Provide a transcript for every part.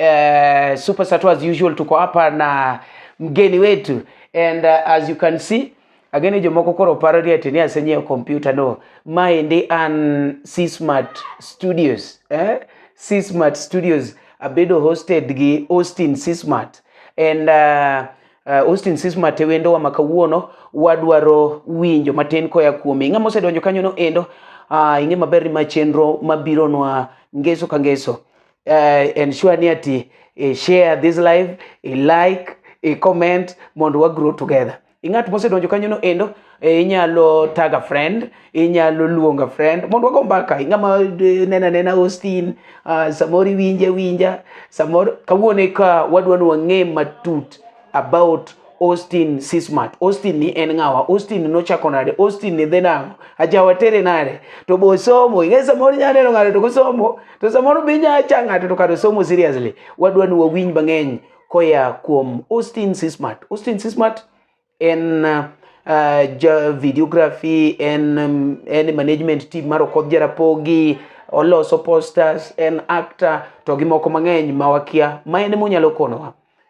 Uh, Super Sato as usual tuko hapa na mgeni wetu and uh, as you can see ageni jomoko koro paro ni ati ni asenyiewo kompyuta no maendi an C Smart Studios eh? C Smart Studios abedo hosted gi Austin C Smart and uh, uh, Austin Sisma Tewendo wa makawuono wadwaro winjo matin koya kuome. Ng'ama osedonjo kanyono endo uh, ing'e maber ni ma chenro mabironwa ngeso ka ngeso uh, ensure ni ati uh, share this live uh, like uh, comment mondo wa grow together ing'at mosedonjo kanyono endo eh, inyalo taga friend inyalo luonga friend mondo wago mbaka ing'ama eh, nena nena Austin uh, samoro iwinja winja samoro kawuone ka wadwa ni wang'e matut about Austin Sismat. Austin ni en ng'awa? Austin nochako nade? Austin ni dhi nang'o? Ajawa tere nade? To bo somo, ing'e samoro inyalo neno ng'ato to kosomo, to samoro be inyalo cha ng'ato to kata somo seriously. Wadwa ni wawinj mang'eny koya kuom Austin Sismat. Austin Sismat en uh, ja videography, en, um, en management team mar Okoth Jarapogi, oloso posters, en actor to gi moko mang'eny ma wakia ma en emonyalo konowa.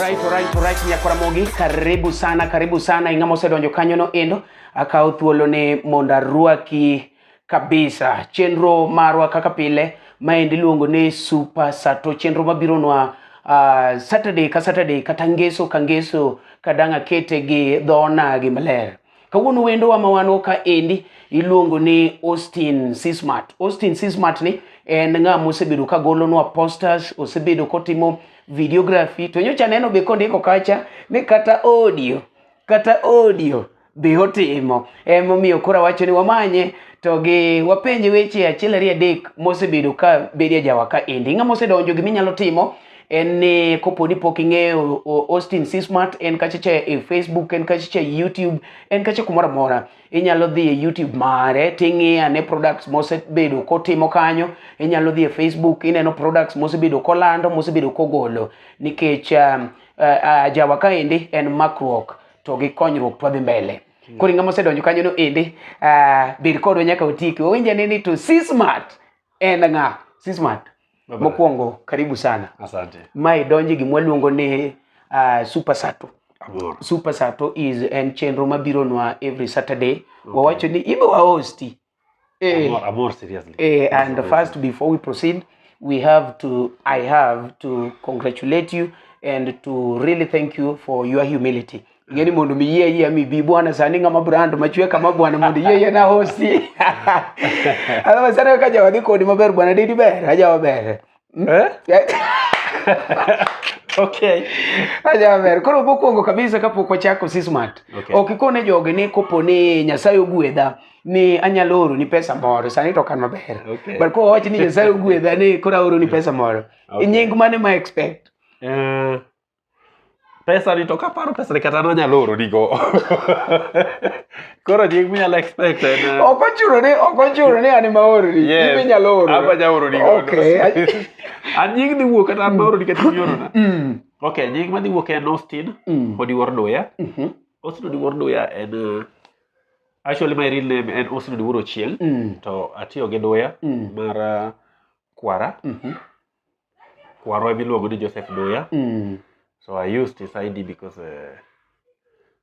Right, right, right, nyakora mogi karibu sana karibu sana ing'ama osedonjo kanyono endo akawo thuolo ni mondo arwaki kabisa chenro marwa kaka pile maendi iluongo ni super sato chenro mabironwa uh, saturday ka saturday kata ngeso ka ngeso kadang' akete gi dho onagi maler Kawuono wendowa ma wan ka endi iluongo ni Austin Sismat. Austin Sismat ni en ng'a mosebedo ka golonwa posters, osebedo kotimo videography to nyocha neno be kondiko kacha ni kata audio, kata audio be otimo. Emomiyo koro awacho ni wamanye to gi wapenje weche achiel ariyo adek mosebedo ka bedo e jawa ka endi. Ng'a mosedonjo gima inyalo timo en ni kopo ni pok ing'eyo Austin C Smart en kacha cha e Facebook en kacha cha e YouTube en kacha kumoro amora inyalo dhi e YouTube mare ting'iya ne products mosebedo kotimo kanyo inyalo dhi e Facebook ineno products mosebedo kolando mosebedo kogolo nikech um, uh, uh, jawa kaendi en makruok to gi konyruok twadhi mbele hmm. koro ing'ama osedonjo kanyo no endi uh, bed kodwa nyaka otiki owinjane ni to C Smart En ng'a? Sismat. Mokwongo karibu sana. Asante. Mae donje gi mwaluongo ni uh, Super Sato. Abor. Super Sato is en chenro mabiro nwa every Saturday. Okay. Wawacho ni ibe wa hosti. Eh, Abor, abor seriously. eh, and first before we proceed, we have to, I have to congratulate you and to really thank you for your humility. ngeni mundu miye iye mibi bwana sani ngama brand machwe kama bwana mundu iye iye na hosi ala masana kaja wadhi kodi maber bwana didi ber aja waber eh? okay aja waber koro mokwongo kabisa kapok wachako sismat okay. ok ikone joge ni kopo ni nyasaye ogwedha ni anyalo oro ni pesa moro sani to kan maber okay. but kowa wachi ni nyasaye ogwedha ni koro aoro ni pesa moro okay. nying mane ma expect uh... pesa ni to kaparo pesa ni kata nonyalo oro nigo koro nying minyalo expect en eh, ok ochuno ni ok ochuno ni an ma oro ni yes. nying minyalo oro aba ja oro nigo okay an nying ni wuok kata an ma oro ni kata nyoro na mm. okay nying ma dhi wuok en Austin mm. odi wor doya mm-hmm. Austin odi wor doya en eh, actually my real name en Austin odi wor ochieng mm. to atiyo gi doya mm. mar eh, kwara mm-hmm. kwarwa biluongo ni Joseph Doya. Mm. So I used his ID because uh,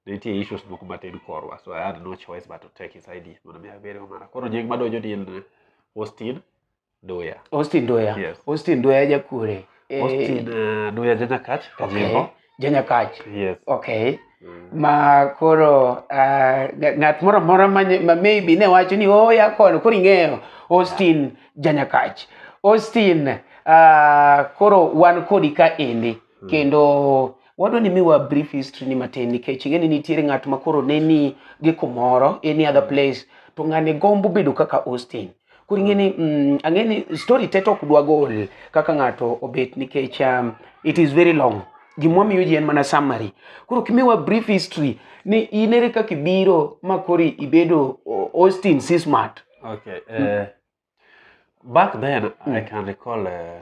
nitie issues moko matin korwa. So I had no choice but to take his ID mondo mi abere omara. Koro nying madonjo ni en Austin Doya. Austin Doya. Yes. Austin Doya jakure. Eh, Austin uh, Doya Janyakach, Kajimbo. Okay. Janyakach. Yes. Okay. Mm. Ma koro uh, ng'at moro moro ma maybe ne wacho ni oh ya koro koro ing'eyo Austin yeah. Janyakach. Austin uh, koro wan kodi ka endi mm. kendo wadwa ni miwa brief history ni matin nikech ing'e ni nitiere ng'at ma koro ne ni gi kumoro any other hmm. place to ng'ani gombo bedo kaka Austin. koro ing'e ni mm, ang'e ni story te to ok dwa gol kaka ng'ato obet nikech um, it is very long gimwa miyo ji en mana summary koro kimiwa brief history ni in ere kaka ibiro ma kori ibedo o- austin c smart Okay. Uh, Back then, I can recall uh,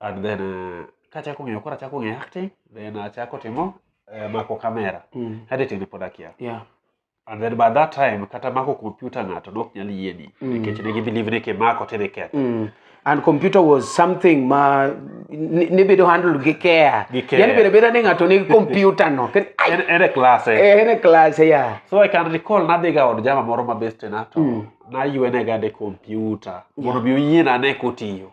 and then uh, kachako ng'eyo koro achako ng'eyo acting then achako timo uh, mako kamera Mm. editing ne pod akia Yeah. and then by that time kata mako kompyuta ng'ato ne ok nyal yieni Mm. nikech ne gibelieve ni kimako tidhi ketho Mm. And computer was something ma ni- nibedo handled gi care. Gi care. Yaani bedo beda ni ng'ato nigi computer no. Ken- ai, En- en e class eh. eh, ene class ya. so i can recall nadhiga od jama moro ma bestena to Mm. naywenega ne kompyuta mondo mi oyiena ane kotiyo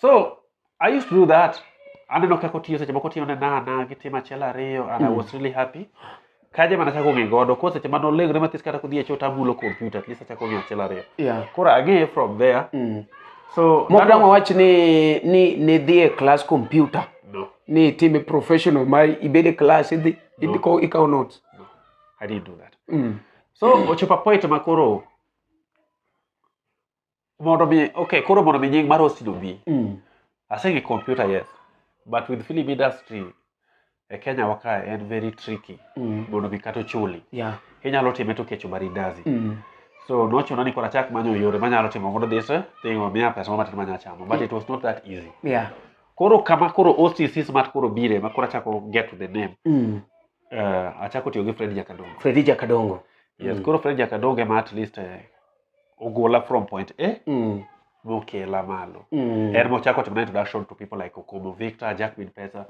so i used to do that aneno kaka otiyo seche moko otiyo ne nana gi tim achiel ariyo and i was really happy kaje mana chako ng'e godo ko seche mane olegre mathis kata kodhi e choo tamulo kompyuta at least achako ng'e achiel ariyo yeah. koro ang'eye from there Mm. so Mok dang' wawach ni ni ni dhi e class computer no ni itime professional ma ibed e class idhi idhi ko ikaw notes. no i didn't do that Mm. so ochopo a point ma koro mondo mi okay koro mondo mi nying mar hosting obi mm. asenge computer yes but with film industry e kenya waka en very tricky mm. mondo mi kata ochuli yeah. inyalo time to kecho marindazi mm. so nochuna ni koro achak manyo yore manyalo timo mondo this thing omiya pesa mamatin manya chamo but it was not that easy yeah. koro kama koro occ smart koro bire ma koro achako get to the name mm. uh, achako tiyo gi fred jakadongo fred jakadongo yes mm. koro fred jakadongo ema at least uh, ogola from point a Mm. mokela malo Mm. and mochako timo na introduction to people like okomo victor jack min pesa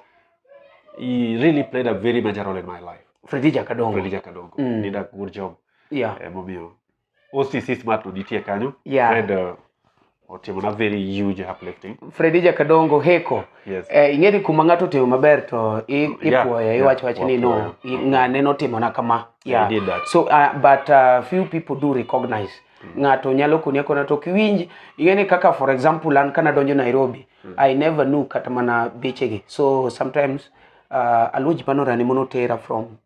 he really played a very major role in my life Freddy Jakadongo. Freddy Jakadongo Mm. did a good job Yeah. eh, momiyo OCC smart no nitie kanyo Yeah. and uh, otimo na very huge uplifting Fredija Kadongo Heko yes eh, ing'eni kuma ng'ato otimo maber to i- Yeah, ipuoye yeah, iwacho wach ni no wapuoyo. i- ng'ane notimona kama I yeah. did that. so uh, but uh, few people do recognize ng'ato nyalo koni akona to ok iwinj ing'eni kaka for example an kana donjo Nairobi I never knew kata mana bechegi so sometimes uh, aluo ji manorani monotera from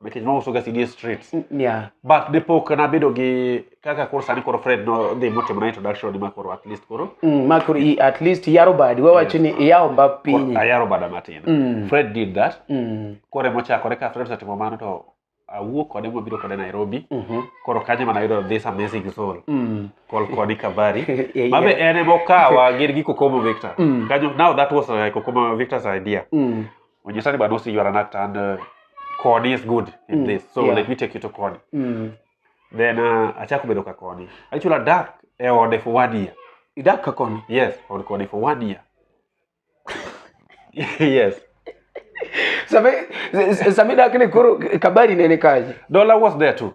but it's also gas in streets yeah but the poke na bedo gi kaka koro sani koro fred no dhi motimo na introduction ma koro at least koro mm, ma koro i- at least yaro badi wawacho ni iyawo mba pinyi ayaro bada matin Mm. fred did that Mm, koro emochakore ka fred osetimo mano to awuok kode mabiro kode nairobi mhm, koro kanyo mana yudo this amazing soul mm. called Connie Kabari. Yeah, Mabe yeah. en emokawa gin gi Kokomo Victor. Mm. Kanyo, now that was uh, Kokomo Victor's idea. Mm, when you're talking about Usi, you are an actor, and uh, Kodi is good in Mm, this. So yeah. let me take you to Kodi. Mm. Then uh, achako bedo ka Kodi. Actually, I dark e ode for one year. Idak ka koni. Yes, od Kodi for one year. yes. Sami, s- s- sami dak ni koro kabari nene kaji. Dollar was there too.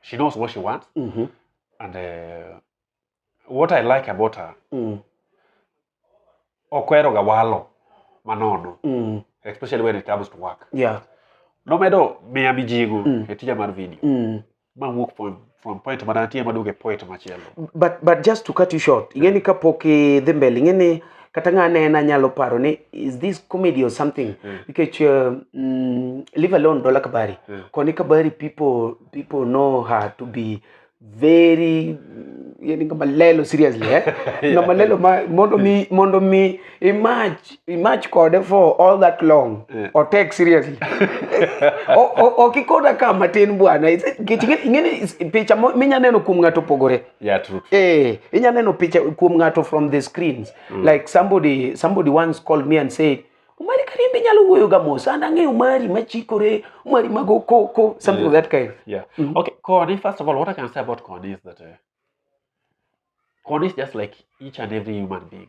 she knows what she wants Mhm. and uh, what i like about her Mm. okweroga walo manono Mm. especially when it comes to work Yeah. nomedo miya mijigo Mm. e tija mar video Mm. mawuok from, from point manantie maduogo e point machielo But but just to cut you short, ingeni kapok idhi mbele, ingeni kata ng'a nena nyalo paro ni is this comedy or something mm. nikech uh, mm, live alone dola kabari mm. koni kabari people people know her to be very yani kama lelo seriously eh yeah. kama lelo ma, mondo mi mm. mondo mi image image kode for all that long yeah. or take seriously okikoda kama tin bwana ingene picha minya neno kuom ng'ato pogore Yeah, true, true. Eh, inya neno picha kuom ng'ato from the screens. Mm. Like somebody somebody once called me and said, Omari Karimbi nyalo wuoyo ga mos, an ang'eyo Omari machikore, Omari mago koko, something yeah. of that kind. Yeah. Mm -hmm. Okay, Koni, first of all, what I can say about Koni is that uh, Koni is just like each and every human being.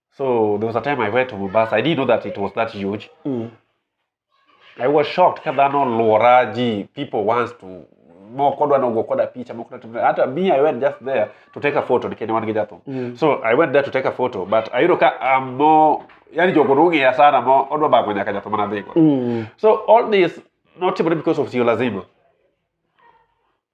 So there was a time I went to Mombasa. I didn't know that it was that huge. Mm. I was shocked ka dhano luora ji people wants to moko dwa nogo koda picha moko dwa hata me I went just there to take a photo nikech ne wan gi jathum. Mm. So I went there to take a photo but ayudo ka I'm more yani jogo nong'eya sana mo odwa bago nyaka jathum mana dhigo. Mm. So all this notimore because of sio lazima.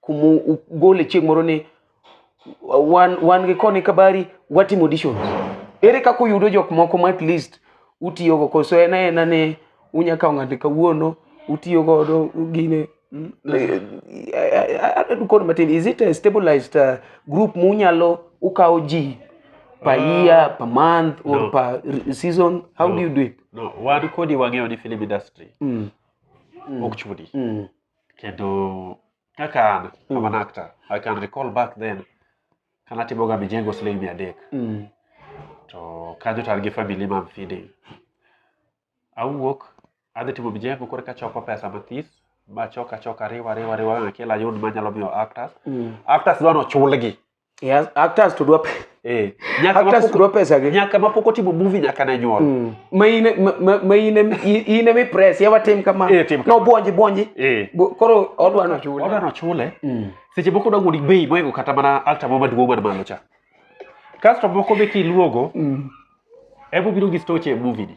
kuma ugole chieng' moro ni wan, wan gi koni kabari watimo auditions ere kaka uyudo jok moko ma at least utiyogo koso en aena ni unya kawo ng'ato kawuono utiyo godo gine mm, kod matin is it a stabilized uh, group munyalo ukawo ji per uh, year per month or no. per season how no. do you do it no wan kodi wang'eyo ni film industry mm. mm. ok chudi mm. kendo kaka an I'm an actor I can recall back then kana timoga mijengo siling mia adek Mm. to kanyo to an gi family mam feeding awuok adhi timo mijengo koro kachoko pesa mathis machok achok ariwa ariwa ariwa achiel ayud manyalo miyo actors Mm. actors dwa nochulgi Yeah, actors to do up. Eh, nyaka actors to do pesa gi. Nyaka ma poko timo movie nyaka na nyuol. Mm. Ma ine ma, ma ine ine mi press yawa tim kama. Eh, tim kama. No bonji bonji. Eh. Koro odwa no chule. Odwa no chule. Mm. Seche moko dwa gudi bei moingo kata mana alta mo maduong' man malo cha. Kasto moko be kiluogo. Mm. Ebo biro gi stoche e movie ni.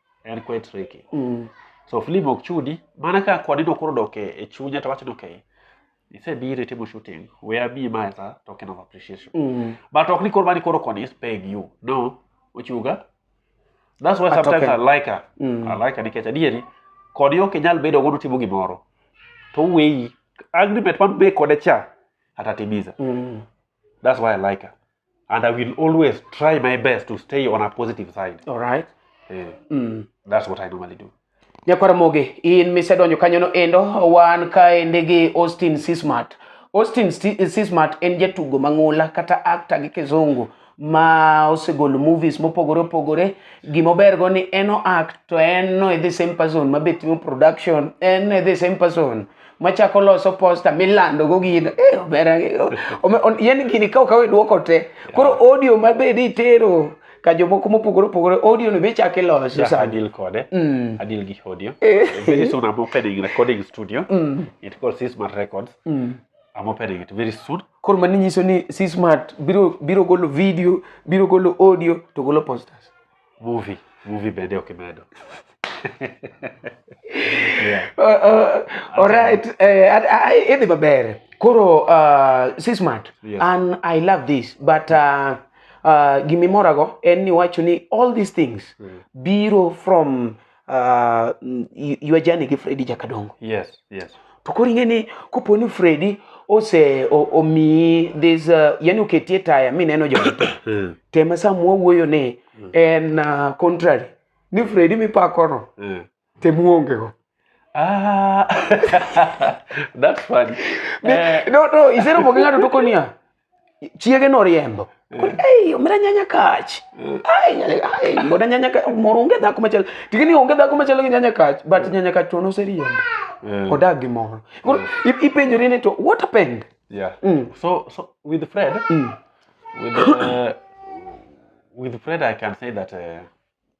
en quite tricky mm. so film ok chudi mana ka kwani no koro dok e chunya to wacho ni okay isebiro itimo shooting we are me ma as a token of appreciation mm. but ok ni koro mani koro koni is paying you no ochuga that's why A sometimes token. I like her Mm. I like her nikech adieri koni ok inyal bedo godo timo gimoro to weyi agreement man be kode cha atatimiza Mm. that's why I like her and i will always try my best to stay on a positive side All right. eh, Mm. that's what i normally do nyakwaramoge in misedonjo kanyono endo wan kaende gi austin sismart austin Sti- sismart en jatugo mang'ula kata akta gi kizungu ma osegolo movies mopogore opogore gimobergo ni en oact to en no e the same person ma be timo production en no e the same person machako loso posta milando go gino eh obera yani gini ka okawe duoko te koro audio mabed itero ka jomoko mopogore opogore audio no be chak iloso sa adil kode mm. adil gi audio eh. very soon i'm opening recording studio mm. it called Sismart Records mm. I'm opening it very soon. Koro mani nyiso ni Sismart biro biro golo video, biro golo audio to golo posters. Movie, movie bende ok imedo. Yeah. Uh, uh, all right. Uh, I, I, idhi maber. Koro uh, Sismat, Yes. and I love this, but uh, uh, gimimorago en ni wacho ni all these things biro from uh, ywa jani gi fredi jakadongo yes, yes. to koro ing'e ni kopo ni fredi ose omiyi this uh, yani oketie taya mi neno jowete hmm. tema sama wawuoyo ni hmm. en uh, contrary ni fredi mipakono hmm. tem uongego ah. that's funny eh. no no isero moke ng'ato tokoniya chiege noriembo ei omera nyanya kach ai nyanya ai mbona nyanya kach moro onge dhako machalo tigi ni onge dhako machalo gi nyanya kach but nyanya kach to noseriembo Eh, odak gi moro Koro i- ipenjori ni to what happened yeah. Mm. So, so with Fred, Mm. with uh, with Fred, I can say that uh,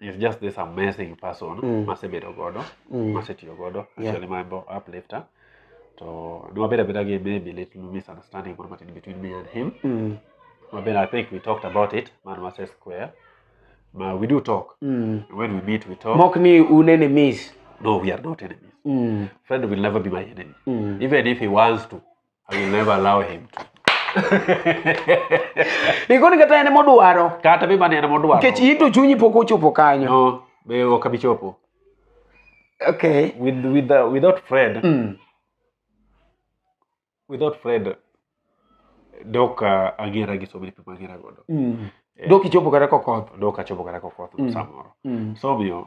is just this amazing person Mm. masebedo godo Mm. masetiyo godo Yeah. actually my bo- uplifter to ne wabedo abeda gi maybe little misunderstanding moro matin between me and him Mm. wabedo i think we talked about it man wase square ma we do talk Mm. when we meet we talk Mok ni un enemies. no we are not enemies Mm. friend will never be my enemy Mm. even if he wants to I will never allow him to. Ikoni kata en modwaro. Kata be mane en modwaro. Nikech in to chunyi pok ochopo kanyo. No, be ok abi chopo. Okay. With with uh, without Fred. Mm. Without Fred dok uh, agera gi so many people agera godo. Mm. Eh, dok ichopo kata kokoth. Dok achopo kata kokoth mm. samoro. Mm. So omiyo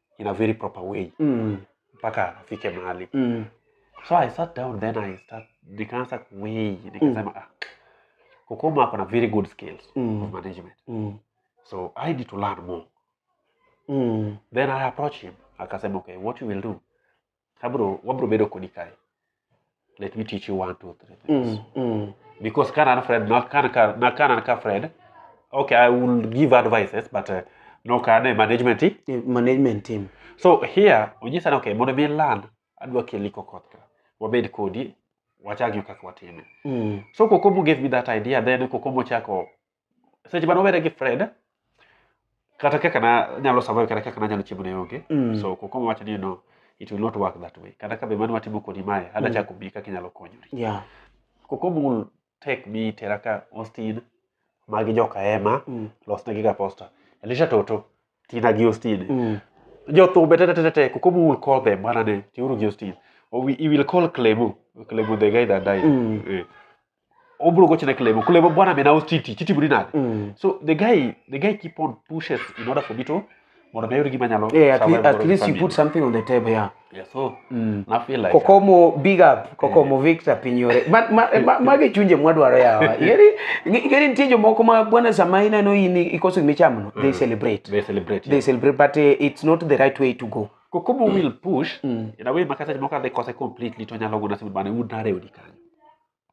in a very proper way Mm. mpaka afike mahali Mm. so i sat down then i start nikaanza kuwei nikasema ah, kukoma ako na very good skills Mm. of management Mm. so i need to learn more Mm. then i approach him akasema okay what you will do abro wabro bedo kodi kae let me teach you one two three things mm, mm. because can and fred not can can not can and fred okay i will give advices but uh, no can a management team yeah, management team so here we just said okay mondo mi land adwa keli kokot ka wabed kodi wachagyo kaka watime mm. so kokomo gave me that idea then kokomo chako seche mane wawere gi fred kata kaka nanyalo survive kata kaka nanyalo chiemo ne onge Mm. so kokoma wacho ni no it will not work that way kata ka be mano watimo kodi mae Mm. adachako bi kaka inyalo konyori Yeah. kokom will take me tera ka austin magi joka ema Mm. losnegi ga posta elisha toto tina gi austin Mm. jothumbe tetetete kokom will call them bana ne tiuru gi austin Or we, he will call clemo clemo the guy that died Mm. Eh. obro go chine klebo klebo bwana me nawo chiti chiti buri nade Mm. so the guy the guy keep on pushes in order for me to mondo mi ayud gima nyalo Yeah, at, survive le- at godo gi least you family. put something on the table, yeah. yeah so Mm. na feel like Kokomo, big up. Kokomo, Victor Pinyore. Ma- ma- ma- Mage chunje mwadwaro yawa. Igeri igeri nitie jomoko ma bwana sama ineno in ikoso gima ichamono, they celebrate. they celebrate They yeah. celebrate, but eh, it's not the right way to go. kokomo will push Mm. in a way makata moko adhi kose completely to nyalo gona sema bana un narewni kanyo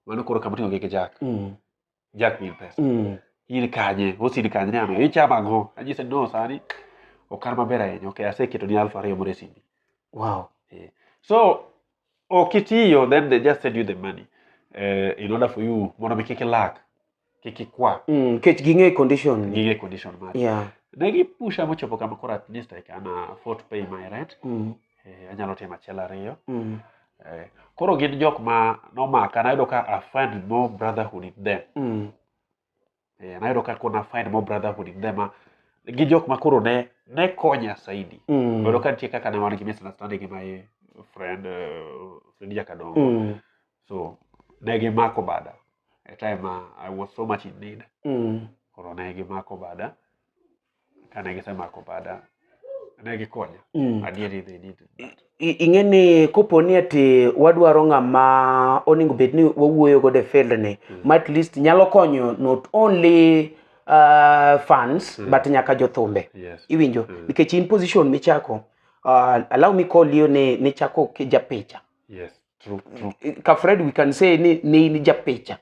mano koro kama oting'o gi gi jack Mm. jack mil pesa Mm. in kanye osin kanye ni ano ichamo ang'o anyise no sani ok an maber ahinya ok aseketo ni alfa ariyo moro e simbi Wow. so ok itiyo then they just send you the money uh, in order for you mondo mi kik ilak kik ikwa Mm, nikech ging'e condition. gige condition mari Yeah. ne gipusha mochopo kama koro at least I can uh, afford to pay my rent Mm, eh, anyalo timo achiel ariyo mm, eh, koro gin jok ma nomaka nayudo ka I find more brotherhood in them mm, eh, nayudo ka kona find more brotherhood in them ah, gi jok ma koro ne ne konya saidi mm, Bedo ka nitie kaka ne wan gi misunderstanding gi my friend uh, friend Jakadongo. mm, So ne gimako bada. a time uh, I was so much in need Mm. koro ne gimako bada kane gisemako bada ne gikonya Mm. adieri they did that. I- ing'e ni kopo ni ati wadwaro ng'ama onego bed ni wawuoyo godo e field ni ma at least nyalo konyo not only uh, fans but nyaka jothumbe yes iwinjo nikech in position michako uh, allow me call you ni nichako ki- japicha yes true true Eh, ka fred we can say ni ne in japicha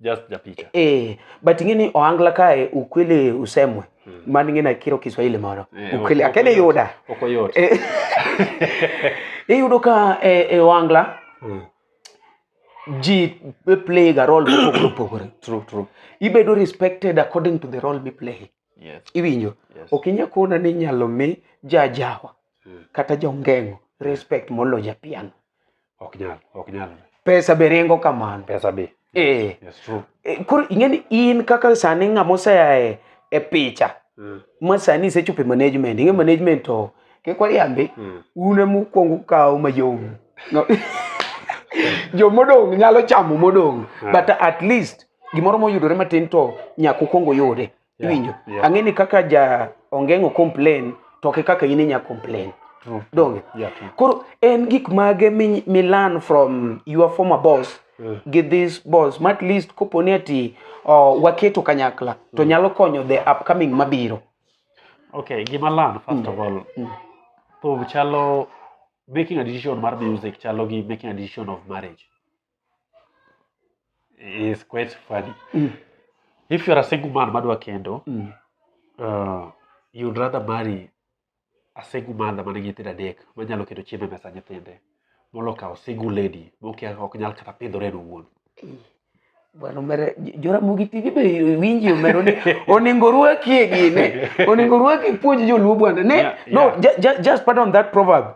just japicha eh, but ing'e ni ohangla kae ukwele usemwe mm. man ing'e na kiro kiswahili moro Eh, ok- ukwele ok akene yot. yuda ok oyot Eh, iyudo ka eh, eh, ohangla Mm. ji play ga role mopogore opogore true true ibedo respected according to the role miplay yes iwinjo yes ok inya kona ni inyalo mi jajawa Mm. kata jongengo respect molo japiano ok nyal ok nyal pesa be ringo kamano pesa be eh yes true Eh, koro ing'e ni in kaka sani ng'ama osea e, e picha Mm. ma sani isechopo e management ing'e management to kikwariambi Mm. un ema ukwongo ukawo mayom No. jomodong' nyalo chamo modong' Yeah. but at least gimoro moyudore matin to nyaka ukwongo yude yeah. iwinjo yeah. ang'e ni kaka ja ongeng'o complain to ke kaka in inya complain true. donge yeah, true. koro en gik mage mi, mi learn from your former boss yeah. gi this boss ma at least kopo ni ati uh, waketo kanyakla mm. to nyalo konyo the upcoming mabiro okay gima learn first mm. of all mm. to chalo making a decision mar music chalo gi making a decision of marriage is quite funny. Mm. If you're a single man madwa kendo, mm. uh, you'd rather marry a single mother man nigi nyithindo adek manyalo keto chiemo e mesa nyithinde molo kawo single lady mokia ok nyal kata pidhore en owuon. Mm. Bwana mere Joramogi TV be winji omero ni oningo rwaki e gine. Oningo rwaki puonj joluo bwana. Ne, yeah, yeah. no, just, just pardon that proverb.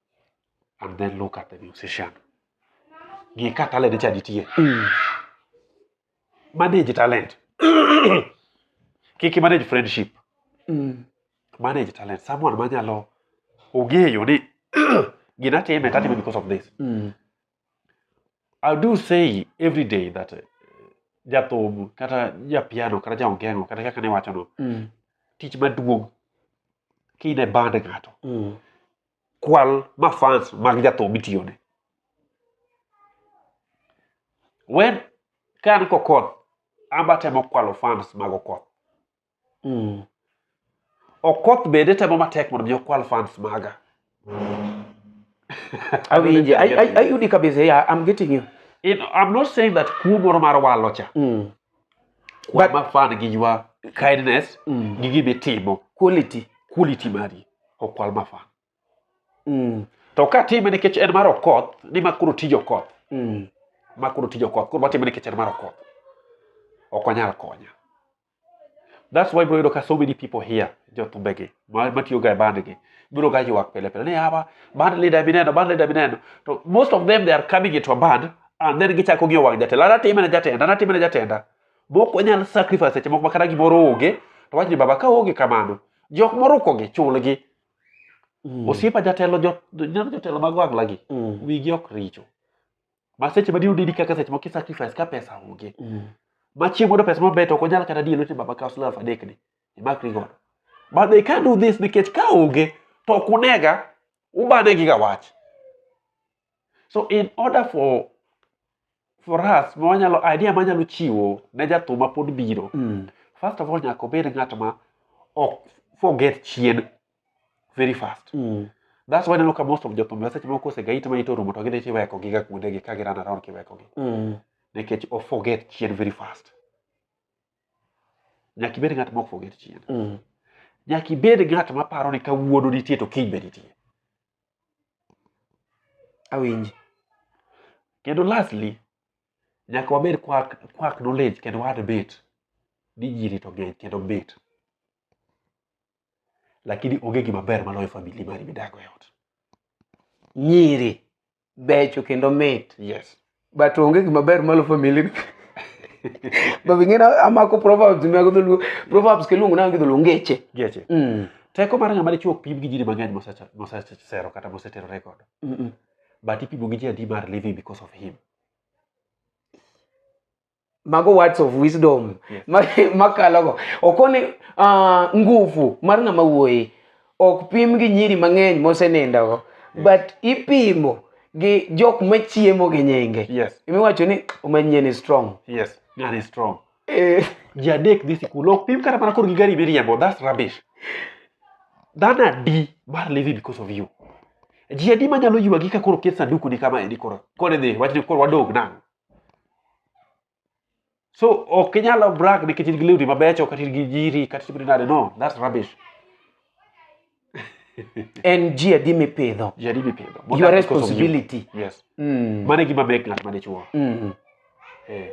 and then look at the musician ng'e ka talent cha nitie mm. manage talent kik manage friendship mm. manage talent someone manyalo ong'eyo ni gina time tatime because of this mm. i do say every day that uh, jathum kata japiano kata jaongeng'o kata kaka niwachono mm. tich maduong' kine band ng'ato mm. kwal ma fans mag jathum itiyone wen ka an kokoth amba temo kwalo fans mag okoth mm. okoth bende temo matek mondo mi okwal fans maga awinje ayudi kabisa yeah, i'm getting you you know, I'm not saying that kuo moro mar walocha mm. But- But, fan gi your kindness Mm. gi gima itimo Quality. quality mari okwal mafan Mm. to ka time nikech en mar okoth ni ma koro tij okoth Mm. ma koro tij okoth koro watime nikech en mar okoth ok onyal konya that's why bro yudo ka so many people here jothumbegi ma- matiyoga e bandgi biro ga ywak pile pile ni awa band leader mineno band leader mineno to most of them they are coming into a band and then gichako gi owang' jatelo an atime ne jatenda an atime ne jatenda mok wanyal sacrifice seche moko makata gimoro onge to wach ni baba ka onge kamano jok moruko gi chulgi Mm. osiepa jatelo jo- neno jotelo mag wang'la gi Mm. wigi ok richo ma seche madino didi kaka seche moko isacrifice ka pesa onge Mm. ma chieng' modo pesa maber to ok onyal kata dino ti baba kaw siling' aluf adek ni imakri godo but they can't do this nikech ka onge to ok unega ubanegiga wach So in order for for us ma wanyalo idea manyalo chiwo ne jathum ma pod biro Mm. first of all nyaka obed ng'at ma ok forget chien very fast Mm. that's why ineno ka most of jothum seche moko osegait ma ito rumo to gidhi tiweko giga kuondegi ka giran around kiwekogi Mm. nikech o forget chien very fast nyaka ibed ng'at ma ok forget chien Mm. nyaka ibed ng'at ma paro ni ka wuono nitie to kiny be nitie Awinji. Kendo lastly, nyaka wabed kwak kwak knowledge kendo wa debate ni ji rito ng'eny kendo mit. Lakini onge gima ber maloyo famili mari midago e ot. Nyiri becho kendo mit yes but onge gima ber malo family but ing'e na amako proverbs mag dholuo proverbs kiluongo nango gi dholuo ngeche geche mm. teko mar ng'ama dichuo ok pim gi jiri mang'eny mosecha- mosesero kata moseterore godo mm, mm. but ipimo gi ji adi mar living because of him mago words of wisdom makalogo yes. okoni uh, ah, nguvu mar ng'ama wuoyi ok pim gi nyiri mang'eny mosenindogo yes. but ipimo gi jok machiemo gi nyinge yes. imiwacho ni omanyie ni strong yes. Very strong. Eh. ji adek dhi sikul ok pim kata mana kor gi gari miriembo thats rubbish dhano adi mar living because of you ji adi manyalo ywagi ka koro ket sanduku ni kama endi koro koro dhi wachni koro wadog nang' so ok inyalo brag nikech in gi lewni mabecho kata in gi jiri kata timri nade no that's rubbish en ji adi mipidho ji adi mipidho your responsibility yes mm. mane gima mek ng'at mane chuo mm. eh.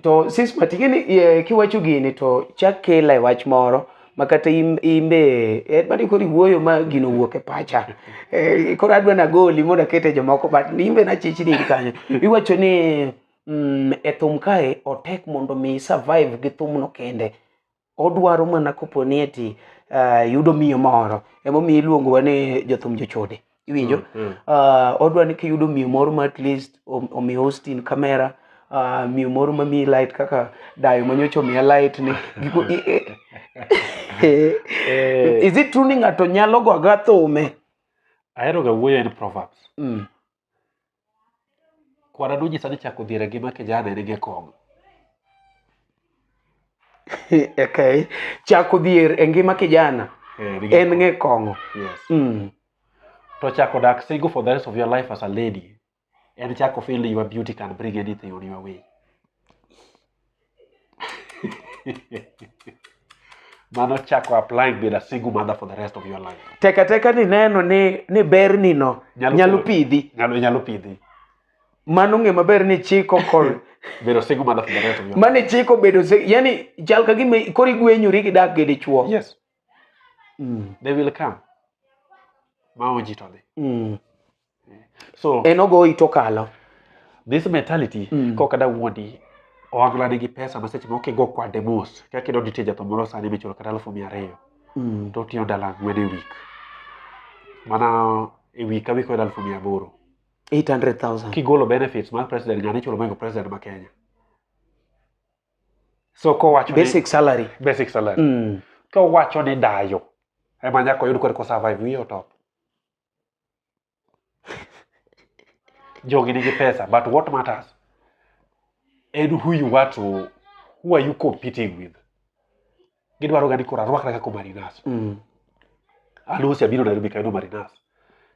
to sis matigini kiwacho gini to chak kela e wach moro ma kata imbe eh, bani kori wuoyo ma gino wuok e pacha eh, koro adwa na goli mondo akete jomoko but imbe na chichi ni kanyo iwacho ni mm, e thum kae otek mondo mi survive gi thum no kende odwaro mana kopo ni eti uh, yudo miyo moro emomiyo iluongo wa ni jothum jochode iwinjo mm, mm. Uh, odwa ni kiyudo miyo moro ma at least omi hostin kamera uh, miyo moro ma miyi light kaka dayo manyocha omiya light ni giko eh. is it true ni ng'ato nyalo go aga thome aheroga wuoyo en proverbs mm. Kwara Nunyi sani chako dhier e ngima kijana en gi kong'. okay. Chako dhier e ngima kijana eh, en ng'e kong'o. Yes. Mm. To chako dak single for the rest of your life as a lady and chako feel your beauty can bring anything on your way. mano chako applying being a single mother for the rest of your life teka teka ni neno ni ni ber ni no Nyalo nyalo kelo- pidhi nyalo nyalo pidhi mano ng'e maber ni chiko kod being a single mother for the rest of your life mane chiko bedo se- yani chal ka gima koro igwenyori gi dak gi dichuo yes Mm, they will come ma onji to dhi mm. so en ogoyi to kalo this mentality mm. kok ada wuondi ohangla nigi pesa ma seche moko kigo kwade mos kaka idwa nitie jatho moro sani michulo kata alufu mia ariyo mm. to otiyo ndalo ang'wen e wik mana e wik ka wik oyudo alufu mia aboro 800,000 kigolo benefits mar president nyani chulo moingo president ma kenya so kowacho basic salary basic salary mm. kowacho ni dayo ema nyaka oyud kore ko survive wiye otop jogi nigi pesa but what matters en who you want to who are you competing with gidwaro gani koro arwakra kaka marinas Mm. alusi abiro nairobi kayudo marinas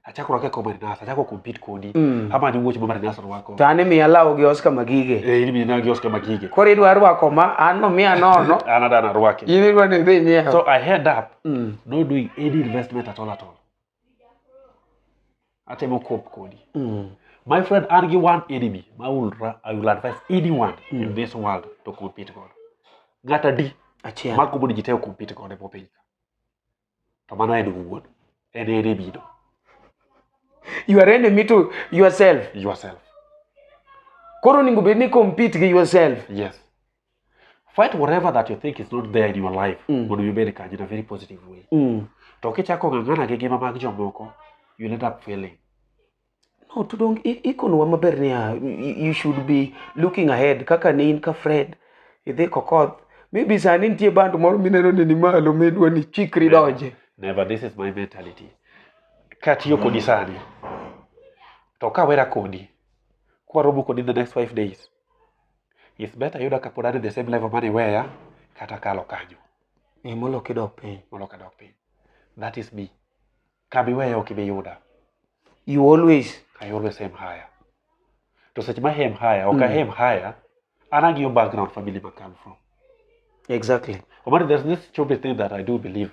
achako rwaka kaka marinas achako compete kodi Mm. ama ni wuoch ma marinas rwako to an imiya law gi oscar magige Eh, in mina gi oscar magige koro idwa rwako ma an nomiya nono an adana rwake in idwa ni idhi nyiewo so i head up Mm. not doing any investment at all at all atemo cope kodi mm. my friend an gi one enemy ma will, I will advise anyone mm. in this world to compete godo ng'at adi magombo ni ji te compete godo e piny ka to mano en wuon en enemy no you are enemy to yourself yourself koro onego bed ni compete gi yourself yes fight whatever that you think is not there in your life Mm. mondo ibed kanyo in a very positive way Mm. to kichako ng'ang'ana gi ngima mag jomoko you end up failing No, to don't i- ikonwa maber niya you you should be looking ahead kaka ne in ka Fred idhi kokoth maybe sani nitie band moro mineno ni ni malo midwa ni chikri donje never this is my mentality katiyo kodi sani to kawera kodi kwaromo kodi in the next five days It's better yuda kapod an e the same level mane iweya kata kalo kanyo. Ee, moloyo kidok piny. Moloyo kadok piny. That is me. Kama iweya ok ibi yuda. You always. I always aim higher. To seche ma aim higher, ok mm. aim higher, an ang'iyo background family ma come from. Exactly. Omari, there's this stupid thing that I do believe.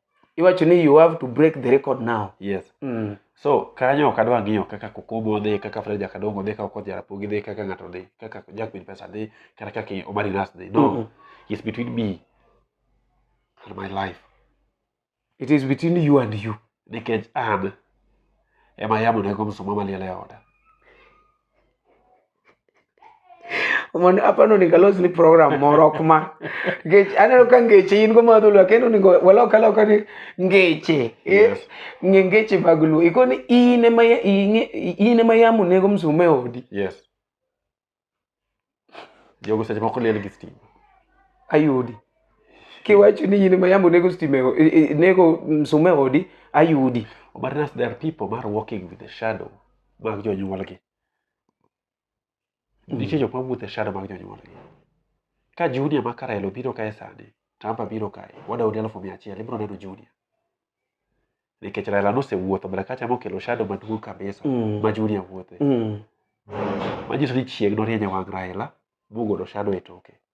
iwacho ni you have to break the record now yes mm. so kanyo ok adwa ng'iyo kaka kokomo dhi kaka fred jakadongo dhi kaka okoth jarapogi dhi kaka ng'ato dhi kaka jakwiny pesa dhi kata kaka omari nas dhi no mm -hmm. it's between me and my life it is between you and you nikech an ema yamonego msuma maliel e oda mondo apani onego alos ni program moro ok ma ngech aneno ka ngeche in go ma dholuo lakini onego walok aloka ni ngeche eh, ng'e ngeche mag luo ikoni in ema ya- ing'e- in ema yamo nego msuma e odi yes jogo seche moko liel gi stima ayudi kiwacho ni in ema yamo nego stima e o- e- e- nego msuma e odi ayudi but nas there are people mar walking with the shadow mag jonyuolgi Mm. Nitie jok ma wuotho e shada mag jonyuolgi. Ka junia ma Karel obiro kae sani, Tamba biro kae, wadaudi alufu mia achiel, ibiro neno junia. Nikech Raila nosewuotho mbele kacha mokelo shado maduong' kabisa Mm. ma junia wuothe. Mm. Manyiso ni chieng' norieny e wang' Raila mogolo shado e toke.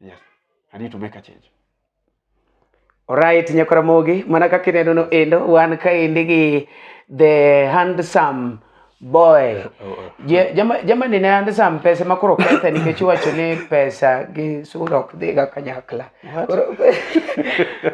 yes i need to make a change Alright, Nyakoramogi, mana kaka ineno no endo, wan kaendi gi the handsome boy. Oh, oh. Je- jama- Jamani ne handsome pesa ma koro kethe nikech iwacho ni pesa gi sura ok dhiga kanyakla. Koro-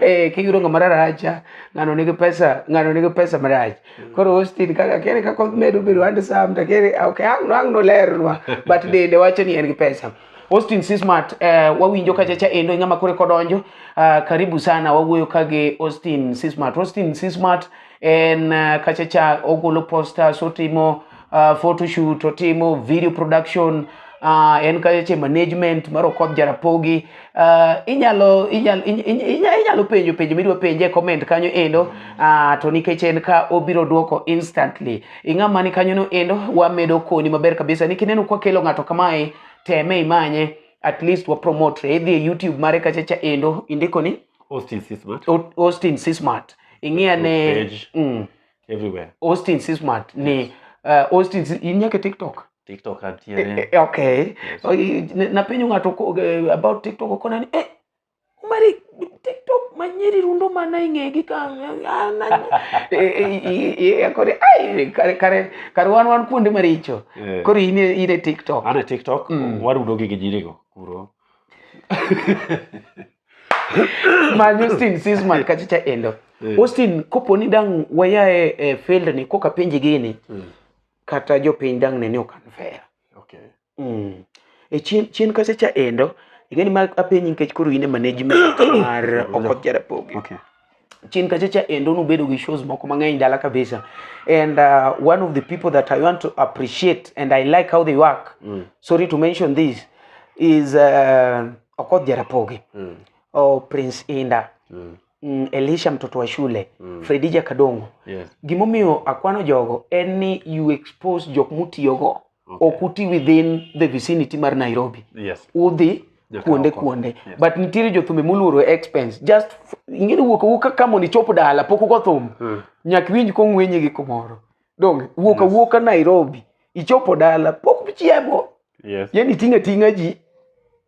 Eh, kiyudo ng'ama raracha, ng'ano nigi pesa, ng'ano nigi pesa marach. Koro Austin kaka kere kaka omedo bedo handsome to kere ok ang' no ang' nolernwa but dende wacho ni en gi pesa. Austin Sismat uh, eh, wawinjo kachacha endo e ng'ama kore kodonjo uh, karibu sana wawuoyo ka gi Austin Sismat. Austin Sismat en uh, kachacha ogolo posters otimo uh, photoshoot otimo video production uh, en kachacha management mar Okoth Jarapogi uh, inyalo, inyalo, inyalo, inyalo penjo penjo midwa penje e comment kanyo endo uh, to nikech en ka obiro duoko instantly ing'ama ni kanyono endo wamedo koni maber kabisa ni kineno kwa kelo ng'ato kamae teme imanye at least wa promote idhi e youtube mare kachacha endo indiko ni Austin C Smart O- austin c smart ing'ia ne page. mm, everywhere austin c smart ni uh, austin C- in nyaka e tiktok TikTok antiere Eh, okay Yes. Oi, n- napenyo ng'ato ko- eh, about tiktok okona ni eh, mari tiktok manyeri rundo mana e ng'egi kore kare kare kare wan wan kuonde maricho eh. koro in in e tiktok an e tiktok mm. warudo gi gijirigo kuro man Austin Sisman kachicha endo eh. Austin kopo ni dang waya e, e field ni koka penji gini mm. kata jopiny dang ne ni okan fair okay. Mm. E chien, chien kacha cha endo ing'eni ma apenyi nikech koro in e management mar Okoth Jarapogi. Okay. Chien kacha cha endo nubedo gi shows moko mang'eny dala kabisa and uh, one of the people that I want to appreciate and I like how they work mm. sorry to mention this is uh, Okoth Jarapogi mm. or oh, Prince Inda mm. mm, Elisha mtoto wa shule mm. Fredija Kadongo yes. Gimomiyo akwano jogo en ni you expose jok mutiyogo okay. ok uti within the vicinity mar Nairobi yes. udhi kuonde kuonde yes. but nitiere jothumbe moluoro expense just ing'eyo wuok awuoka ka mondo ichop dala pok ugo thum hmm. nyak winj kong'wenye gi kumoro donge wuok awuoka yes. Nairobi ichopo dala pok chiemo yes. yani ting' ating'a ji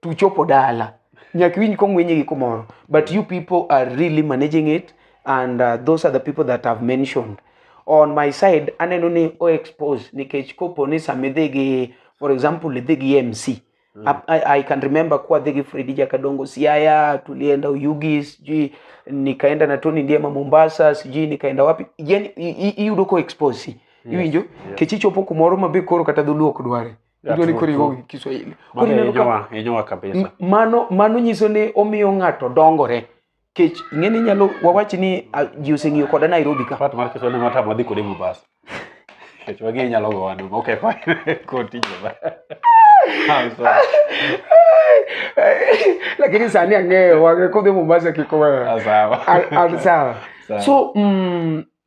tuchopo dala nyaka iwinj kong'wenye gi kumoro but you people are really managing it and uh, those are the people that have mentioned on my side aneno ni o expose nikech kopo ni sama idhi gi for example idhi gi mc mm. I, I can remember kuwa adhi gi fredi jakadongo siaya tulienda uyugi sijui nikaenda na toni ndiema mombasa sijui nikaenda wapi yani iyudo ko expose iwinjo yes. kech ichopo kumoro ma be koro kata dholuo ok dware idwa ni koro igo gi kiswahili koro ineno ka inyowa kabisa mano mano nyiso ni omiyo ng'ato dongore kech ing'e ni nyalo wawach ni ji oseng'iyo koda Nairobi ka pat mar kiswahili ma tamo dhi kode Mombasa kech wagi inyalo go wadu okay fine koti jeba lakini sani ang'eyo wang'e kodhi Mombasa kikowa sawa sawa so mm,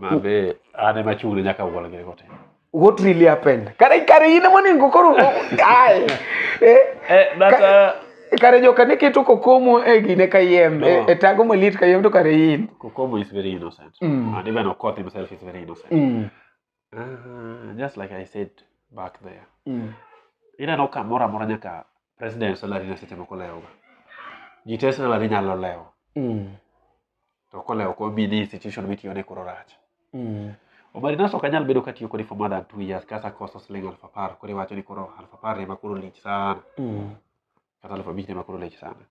Mabe ane machune nyaka wala gire kote. What really happened? Kare kare ine moni ngokoro. Ai. Eh, eh that uh, kare joka ne keto kokomo e gine kayiem no. e, e tago malit kayiem to kare in kokomo is very innocent mm. and even okoth himself is very innocent mm. Uh, just like I said back there. Mm. Ineno ka mora mora nyaka president salary na seche moko lewo. Ji te salary nyalo lewo. Mm. To kolewo ko bi ni institution mitiyo ne koro rach. Mm. Omari naso ok anyal bedo katiyo kodi for more than two years kasa koso siling aluf apar koro iwacho ni koro aluf apar ema koro lich sana. Mm. Kata aluf abich ema koro lich sana.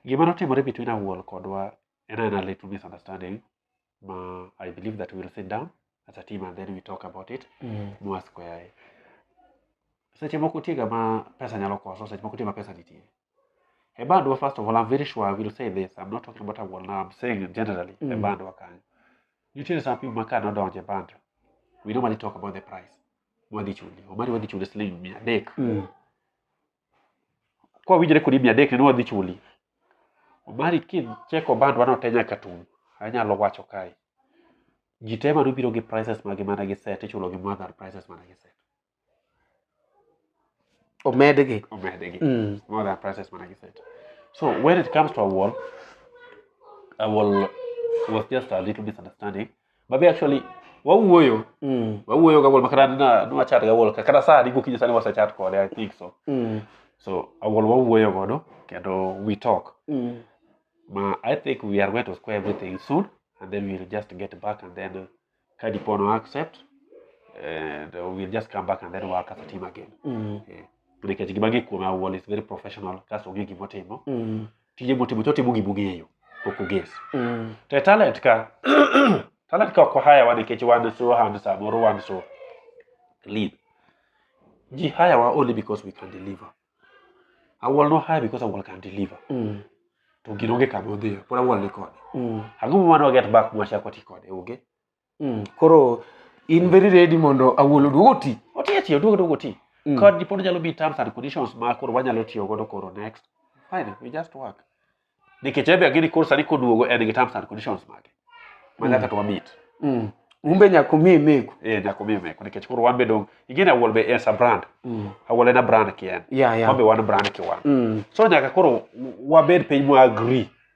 Gima notimore between Awuol kodwa and then a little misunderstanding ma i believe that we'll sit down as a team and then we talk about it Mm. mwasquare seche moko tiega ma pesa nyalo koso seche moko tie ma pesa nitie e bandwa first of all i'm very sure i will say this i'm not talking about awol now i'm saying it generally e Mm. bandwa kanyo nitiere some people ma ka nodonje band we normally talk about the price mwadhi chuli omari wadhi chuli siling mia adek Mm. kwa winjre kodi mia adek nene wadhi chuli omari kicheko bandwa no te nyaka tum anyalo wacho kae ji te mane obiro gi prices magi mana gi set ichulo gi more than prices mana gi set omedgi omedgi mm. more than prices mana gi set so when it comes to awol awol was just a little misunderstanding babe actually wawuoyo Mm. wawuoyo ga wuol ma kata na nwa chat ga wuol ka- kata saa diko kinyo sani wase chat kode i think so Mm. so awuol wawuoyo godo kendo we talk Mm. ma i think we are going to square everything soon and then we'll just get back and then uh, ka dipo no accept and uh, we'll just come back and then work as a team again Mm. nikech gima gi kuome awuol is very professional kaso onge gimotimo Mm. tije motimo to otimo gima ong'eyo ok oges mm. to e talent ka talent ka ok wahayawa nikech wan so hand samoro wan so lead ji hayawa only because we can deliver awol no hire because awol can deliver mm. to gino onge kama odhiyo pod awol ni kode mm. ang'o mumano waget back mwachako ti kode onge Mm, koro in very ready mondo awuol oduog oti Oti ati oduog oduog oti. Mm. Kod dipod nyalo bi terms and conditions ma koro wanyalo tiyo godo koro next. Fine, we just work. Nikech ebe agini koro sani koduogo en gi terms and conditions mage. Ma nyaka to wamit. Mm. umbe nyako mi meku Eh nyaka omi meko nikech koro wan be dong igini awuol be en sa brand. Mm. Awuol en a brand ki en. ya ya Wan be wan brand ki wan. Mm. So nyaka koro wabed piny mwa agree.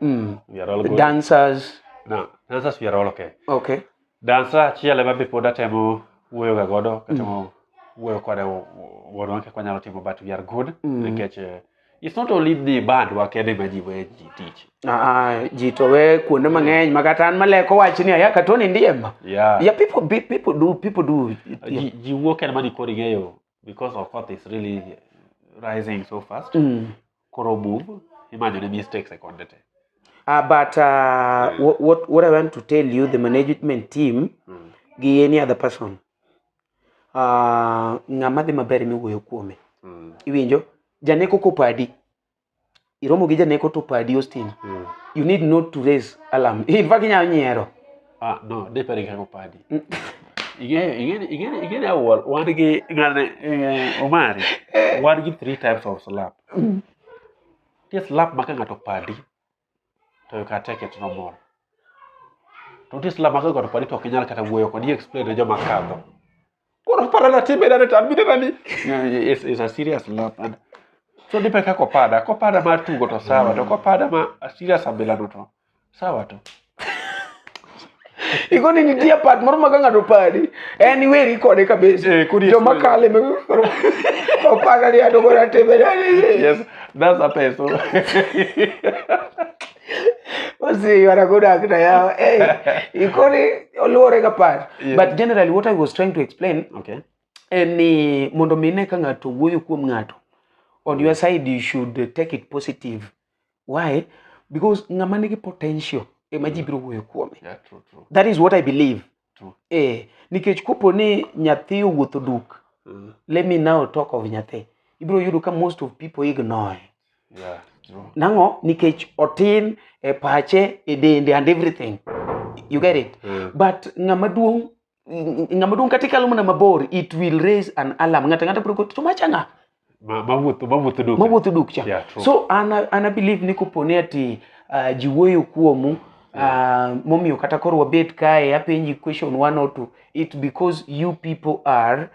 Mm. We are all good. Dancers. No, dancers we are all okay. Okay. Dancer achiel ema be pod atemo wuoyo ga godo, katemo mm. wuoyo kode wuodwa kaka wanyalo timo but we are good mm. nikech uh, it's not only the band wakende ma ji we ji tich ah ji to we kuonde mang'eny ma kata an maleko wach ni aya ka toni ndiye ma yeah. yeah people be, people do people do yeah. ji, ji wuok en mani kori ng'eyo because of course is really rising so fast mm. koro move imanyo ne mistakes e konde te Uh, but uh, yeah. what, what, what I want to tell you, the management team, mm. gi any other person, uh, ng'ama dhi maber miwuoyo kuome. Mm. Iwinjo? Janeko kopadi. Iromo gi janeko to padi Austin. Mm. You need not to raise alarm. In fact, inyalo nyiero. ah non day pare nga ko paa di. Again, again, again, again, I will want to get uh, Omari. Want to get three times of slap. This slap maka ngato padi. To you can take it no more. To this slap maka ngato padi to kinyal kata wuoyo ko di explain ne joma kadho. Koro para na timbe na retan bide na ni. It's, it's a serious love. And so dipe ka kopada, kopada ma tugo to sawa to kopada ma a serious abila no to sawa to. Iko ni nitie part moro ma ka ng'ato padi en iweri kode kabisa. Eh, kuri yes, Joma well. kale me koro opada ni ato kora timbe na ni. Yes, that's a peso. What's you are a good actor. Yeah. Hey, you call it Olore Kapat. Yeah. But generally, what I was trying to explain okay. en ni mondo mi ine ka ng'ato wuoyo kuom ng'ato on your side you should take it positive why because ng'ama nigi potential ema ji biro wuoyo kuome Yeah, true, true. that is what i believe True. eh nikech kopo ni nyathi owuotho duk Mm. let me now talk of nyathi ibiro yudo ka most of people ignore Yeah, true. nang'o nikech otin e pache e dende and everything you get it Mm. but ng'ama duong' ng- ng'ama duong' kata ikalo mana mabor it will raise an alarm ng'ato ang'ata biro go to machanga Ma- mawuotho mawuotho duka mawuotho duk cha Yeah, true. so an an I believe ni koponi ati uh, ji wuoyo kuomu uh, momiyo kata koro wabet kae apenji question one or two it because you people are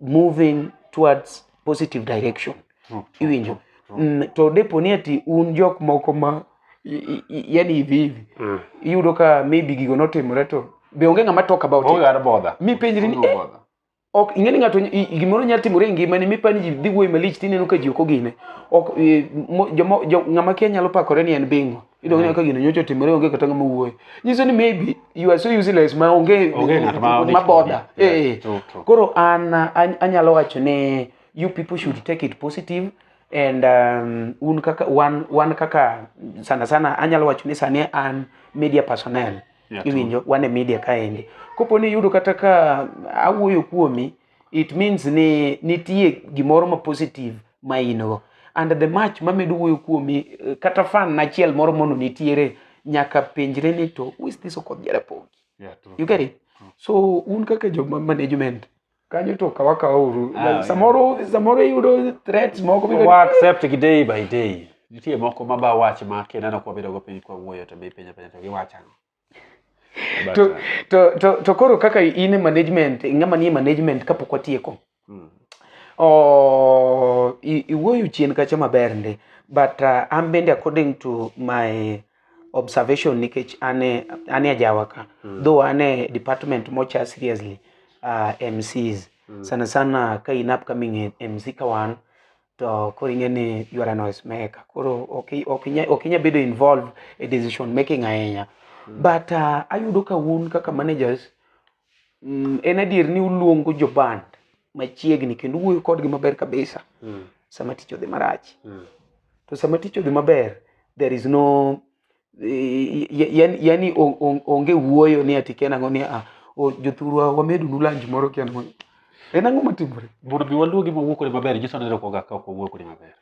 moving towards positive direction True, true, iwinjo true. mm, to deponi ati un jok moko ma i- i- i- yani hivi hivi Mm. iyudo ka maybe gigo notimore to be onge ng'ama talk about Onge it ng'ama bother. mipenjri ni Onge eh, bother. ok ing'eni ng'ato gimoro nyalo timore e ngimani mipani ji dhi wuoyi malich tineno ka ji ok ogine ok e, ng'ama kia nyalo pakore ni en bingo idong neno ka gino nyocha otimore onge kata ng'ama wuoyo nyiso ni maybe you are so useless ma onge maboda eh, eh. koro an anyalo wacho ni you people should take it positive and um, un kaka wan, wan kaka sana sana anyalo wacho ni sani an media personnel Yeah, true. iwinjo wan e media kaendi kopo ni iyudo kata ka awuoyo kuomi it means ni nitie gimoro ma positive ma in go and the match mamedo wuoyo kuomi eh, kata fan achiel moro mono nitiere nyaka penjre ni to who is this okodh jarapogi Yeah, true. you get it so un kaka joma management kanyo to kawa kawa uru Ah, yeah. samoro samoro iyudo threats moko biro- wa accept gi day by day nitie moko ma ba wach ma kineno kwa bedo go piny kwa wuoyo to be penyo penyo to giwacho ang'o But, to, uh, to, to, to koro kaka in e management ng'ama nie management kapok watieko mm, oh, i- iwuoyo chien kacha maber ndi but uh, an bende according to my observation nikech ane ane ajawa ka mm. though ane department mocha seriously uh, MCs mm. sana sana ka in upcoming MC ka wan to koro ing'e ni you are a noise maker koro ok ok inya ok inya bedo involved e decision making ahinya mm. but uh, ayudo ka un kaka managers Mm, en adier ni uluongo joband machiegni kendo uwuoyo kodgi maber kabisa mm. sama tich odhi marach mm. to sama tich odhi maber there is no yani onge wuoyo ni ati ken ang'o ni ah, jothurwa wamedunu lanji moro ken ang'o en ang'o matimore mondo mi waluogi mawuo kode maber nyiso ni ero koga ka ok wawuo kode maber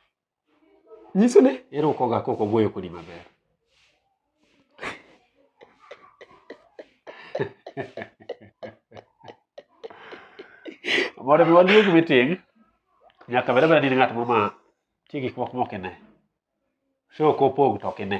nyiso ni irukoga kok ogoyo kodi maber mondo mi waduog meeting nyaka bed abeda ni in ng'at moro ma tie gik moko mok ine show kopog to ok ine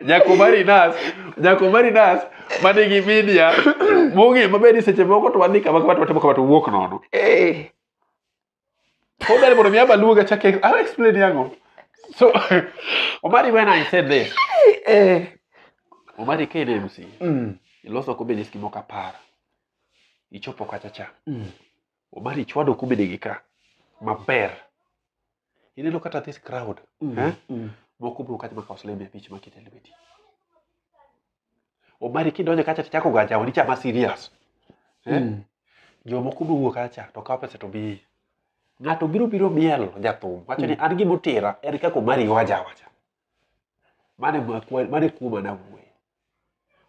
nyako marinas nyako marinas ma nigi media mong'e maber ni seche moko to wadhi kama kama to watimo kama to wuok nono eh. kodari mondo mi abaluoga chake i'll explain yango so omari when i said this eh. omari ka in mc mm. iloso ko benis gimoko apar ichopo kacha cha mm. Omari chwado kubede gi ka maber. Ineno kata this crowd. Mm, eh? Mm. Moko bro kata makawo siling mia abich maket e lweti. Omari kidonjo kacha to chako gaja wadi chama serious. Eh? Mm. Jomoko bro wuok kacha to kawo pesa to bi. Ng'ato biro biro miel jathum wacho ni mm. an gimotira en kaka Omari waja wacha. mane makwa mane kuoma na wuoyo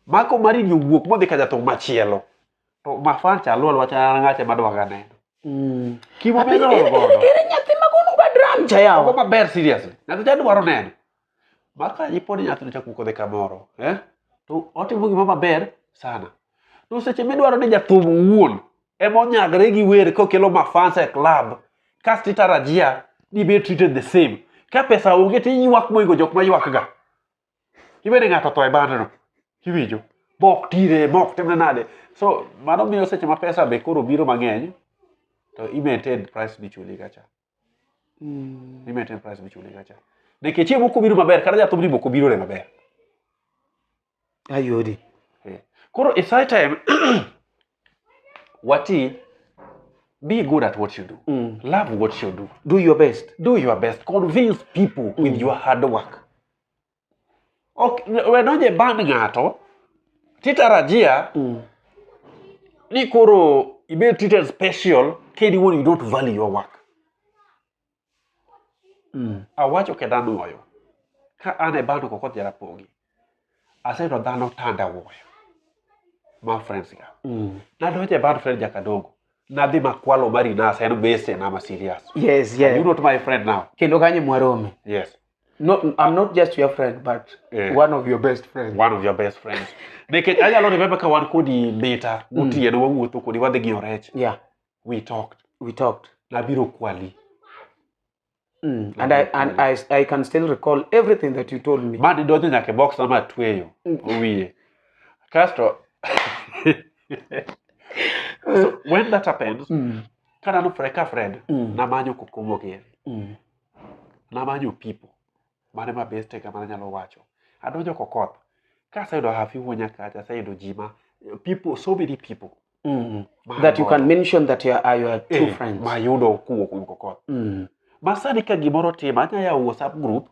mako mari ni wuok modhi ka jathum machielo to mafan cha lol wacha an ng'acha madwa ga neno Mm. kimo Ati, be lol ere- godo ere- ere nyathi ma kono ga dram cha Ogo yawa maber seriously nyathi cha dwaro neno maka iponi nyathi no chako kodhi kamoro eh to otimo gima maber sana to seche midwaro ni jathum owuon ema onyagre gi wer kokelo mafans e club kasto itarajia ni be treated the same ka pesa onge to iywak moingo jok ma ywakga ibede ng'ato tho e bandno iwinjo mok tire mok timne nade so mano miyo seche ma pesa be koro biro mang'eny to i maintain price michuli kacha Mm. Ni metin price michule gacha. De ke chiemo kobiro maber kata jathum ni boko biro le maber. Ayodi. Eh. Koro it's high time wati be good at what you do. Mm. Love what you do. Do your best. Do your best. Convince people mm. with your hard work. ok we donje ban ng'ato titarajia mm. ni koro ibed treated special kedi wuon you don't value your work mm. awacho ke dhano oyo ka an e bano koko jara pogi aseto dhano tanda wuoyo ma friends ga mm. nadonje ban friend jakadongo nadhi makwalo mari nasa en bese na ma serious yes yes you not my friend now kendo kanye mwarome yes Not, I'm not just your friend, but Eh. one of your best friends. one of your best friends nikech anyalo remember ka wan kodi mita gotieno wawuotho kodi wadhi gi orech Yeah, we talked we talked. nabiro kwali Mm. And I and I, I can still recall everything that you told me. ma didonjo nyaka e box ama atweyo wiye kasto so when that happens Mm. kanano fre ka friend Mm. namanyo kokomogie Mm. Namanyo pipo. Mane ma bestega mana nyalo wacho. Adonjo kokoth. Kaseyudo hafi wuonya kacha, aseyudo ji ma people, so many people. Mm. Ma That you can adonjo. mention that you are, are your true Eh, friends. Ma yudo kuwo kuom kokoth. Mm. Ma sani ka gimoro tima, anya yawo WhatsApp group,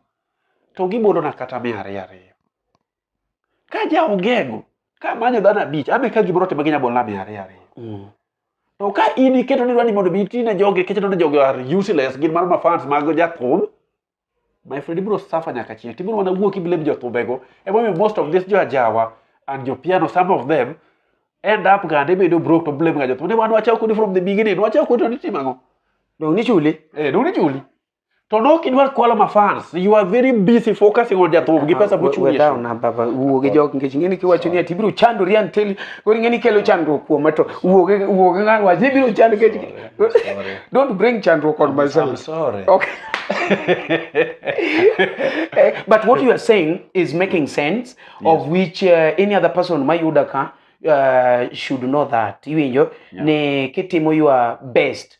to gibodona kata mia ariyo ariyo. Ka ja ongego ka manyo dhano abich ame ka gibro timo gi nyabol nami ariyo ariyo. Mm. To ka in iketo ni dwani mondo bi tine joge keche ni joge are useless gin mar mafans mag jathum. My friend ibro suffer nyaka chieng. Tibro wana wuok iblem jothumbego. Ema omiyo most of this jo ajawa and jo piano some of them end up gande bedo broke to blame ga jothum. Ne wan wachaw kodi from the beginning. Wachaw kodi to nitimo ang'o? Dong' nichuli? Eh, dong' nichuli. To nok idwar kwalo ma fans. You are very busy focusing on jathubu gi pesa mochung' Wewe down na baba wuo gi jok nikech ng'eni kiwacho ni ati biro chando rian tel kori ng'eni kelo chandruok kuom to wuo gi wuo gi ng'an waje biro chando ke Don't bring chandruok on myself. I'm sorry. Okay. Eh, but what you are saying is making sense yes. of which uh, any other person my yudaka uh, should know that iwinjo yeah. ne kitimo your best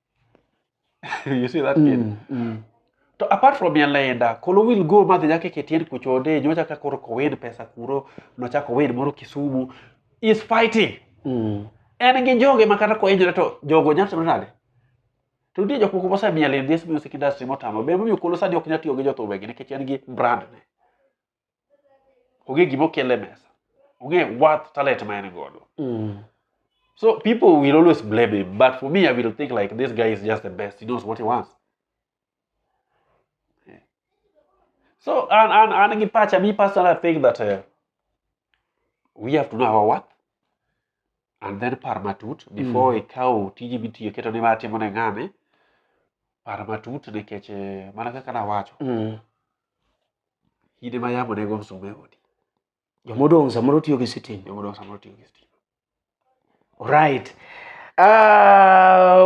you see that kid mm, mm. to apart from yalenda kolo will go madhi nyaka ketien kuchode nyocha ka koro kowen pesa kuro nochako wen moro kisumu is fighting mm. en gi joge ma kata koenjore to jogo nyalo timo nade to nitie jok moko mosemiel in this music industry motamo be momiyo kolo sani ok nyal tiyo gi jothumegi nikech en gi brand ne ong'e gima okele mesa ong'e worth talent ma en godo mm. so people will always blame him but for me i will think like this guy is just the best he knows what he wants yeah. so and and and Gipacha, me personally I think that uh, we have to know our worth and then par matut before mm. ikaw tiji mitiyo keto ni matimo ne ng'ane par matut nikech eh, mana kaka nawacho mm. in ema yamo ne go msuma e odi joma odong' samoro tiyo gi sitima joma odong' samoro tiyo gi sitima right Uh, ah,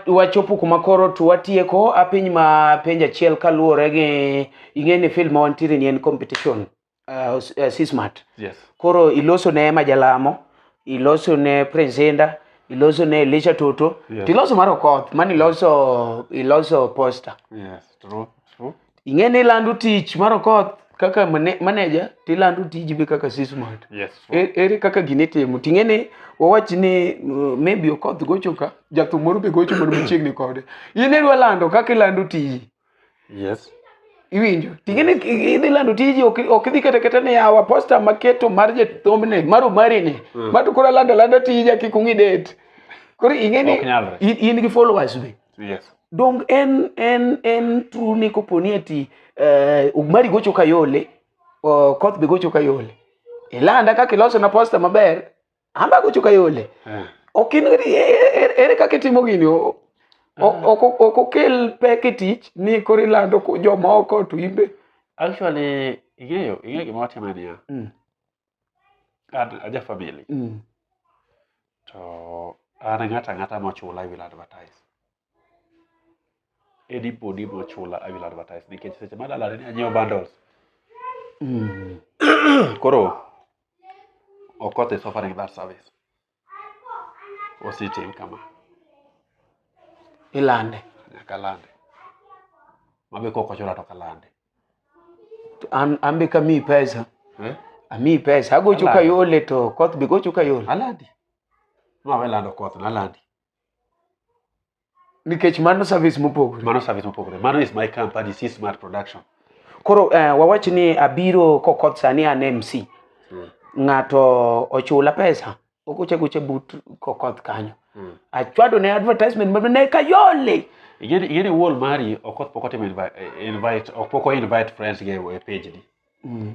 wachopo wa kuma koro to watieko apiny ma penj achiel kaluwore gi ing'e ni film ma wantiere ni en competition uh, uh, sismat yes. koro iloso ne majalamo iloso ne presenda iloso ne elisha toto yes. tiloso mar okoth mani iloso iloso poster yes, true, true. ing'e ni ilando tich mar okoth kaka mane- manager to ilando tiji be kaka sismart Yes. E- ere kaka gini itimo ting'e ni wawach ni uh, maybe okoth gocho ka jathum moro be gocho moro machiegni kode in idwa lando kaka ilando tiji Yes. iwinjo ting'e ni i- idhi lando tiji ok ok idhi kata kata ni awa posta maketo mar jathombne mar omarini ma to koro alando alanda tija kik ung'i det koro ing'e ni Ok nyalre. in in gi followers be Yes. Dong en en en true ni kopo ni ati eh, Mari gocho kayole, oh, Koth be gocho kayole. Ilanda kaka iloso na posta maber, amba gocho kayole. Eh. Ok in gadi e- e- e- ere kaka itimo gini o- o- ok ok okel pek e tich ni koro ilando ko- jomoko to imbe. Actually, ing'eyo, ing'eyo gima watimaniya. Mm. Ad- aja family Mm. to an ng'ato ang'ata mochula i will advertise anybody mochula i will advertise nikech seche ma dalane ni anyiewo bundles Mm. koro okoth is offering that service osetim kama. Ilande nyaka lande. Mabe kok ochula to kalande. To An an be kamiyi pesa. Eh? Amiyi pesa. Agocho Alande. kayole to koth be gocho kayole. Alandi. Mawe lando koth na alandi. nikech mano service mopogore mano service mopogore mano is my company c smart production koro uh, wawach ni abiro kokoth sani an mc mm. ng'ato ochula pesa okuche kuche but kokoth kanyo mm. achwado ne advertisement mano ne kayole ingeni wall mari okoth pok otimo invite ok pok o invite friends ge e page ni mm.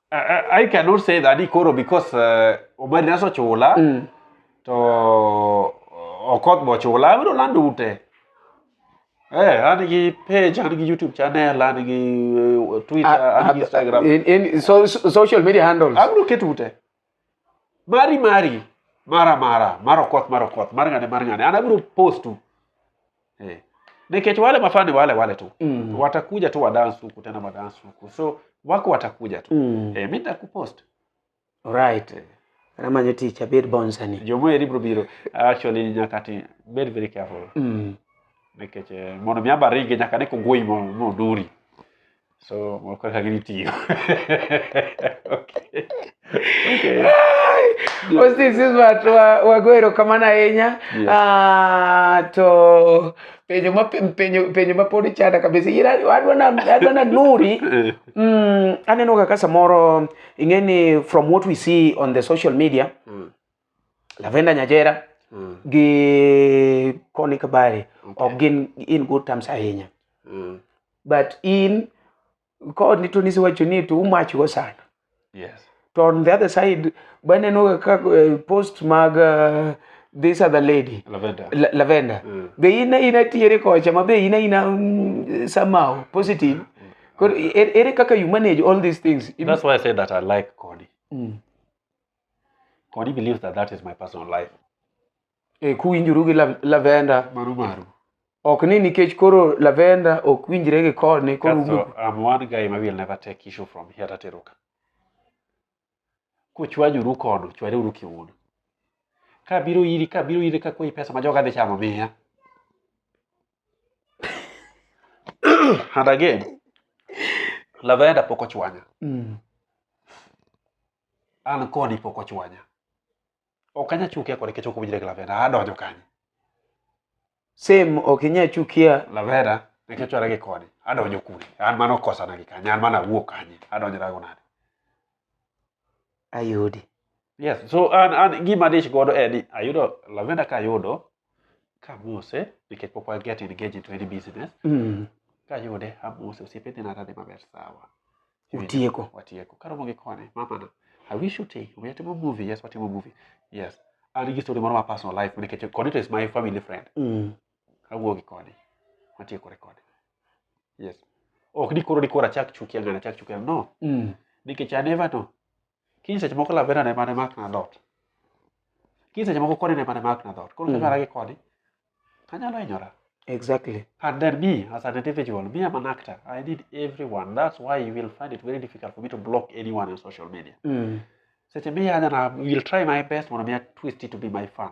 I, I cannot say that ikoro because uh, omari naso chula mm. to uh, okoth bo chula abiro lando ute Eh, an gi page, an gi YouTube channel, an gi uh, Twitter, ah, an gi ah, Instagram. In, in so, so, social media handles. Abiro keto ute. Mari mari, mara mara, mar okoth mar okoth, mar ng'ane mar ng'ane. An abiro postu. Eh. Nikech wale mafani wale wale tu. Mm. Watakuja tu wadance huku tena wadance huku. So wako watakuja tu. Mm. Eh, mimi nitakupost. Alright. Eh. Namanyo tich abed bonsani. Jomo eri bro biro. Actually nyaka ti be very careful. Mm. Nikech eh, mondo mi abaringe nyaka ne kogoi mo duri. So, we'll click I give it to you. okay. Okay. Hostis Ismat wago erokamano ahinya ah, to penjo ma penjo penjo ma pod ichanda kabisa ira adwa na adwa na nuri eh. mm, aneno kaka samoro ing'eni from what we see on the social media mm. Lavenda Nyajera mm. gi Connie Kabari okay. ok gin in good terms ahinya mm. but in kod ni to nisi wacho ni to umach go sana yes to on the other side baneno ka eh, post mag uh, this other lady lavender, La lavender. Mm. be ina ina tiere kocha ma be ina ina um, somehow positive mm. koro ere kaka you manage all these things that's why i say that i like Connie mm. Or he believes that that is my personal life. E, kuwinjuru gi la- lavenda Maru maru. ok ni nikech koro lavenda ok winjre gi koni koro Kaso, ugo- I'm one guy ma will never take issue from here tatero ka. Kuchwanyuru kono, chwareuru kiuno. Ka biro iri, ka biro iri ka kwayi pesa ma joga dhi chamo miya. And again, Lavenda pok ochwanya. Mm. An kodi pok ochwanya. Ok anya chukia kode kech ok winjre gi Lavenda. Adonjo kanye? Same ok inya chukia. Lavenda nikech chwara gi kodi. Adonjo kure? An mano kosana gi kanye? An mano awuok kanye? Adonjora go nade? Ayudi. Yes, so an an gima dich godo en ni ayudo Lavenda ka ayudo kamose nikech pok waget engage into any business Mm. kayude amose osiepe dhi nara dhi maber sawa Utieko. watieko karomo gi kone mamana i wish you take we atimo movie yes watimo movie yes an gi story moro ma personal life nikech koni to is my family friend Mm. awuo gi koni watiekore koni yes ok ni koro ni koro achak chukia ng'ani achak chukia ng'ani. no Mm. nikech I never know Kiny seche moko lavera ne mane mak na dot. Kiny seche moko koni ne mane mak na dot. Koro mm. kanyara gi koni, anyalo hinyora. Exactly. And then me, as an individual, me, I'm an actor. I need everyone. That's why you will find it very difficult for me to block anyone on social media. Mm. Seche me, and I will try my best when I twist it to be my fan.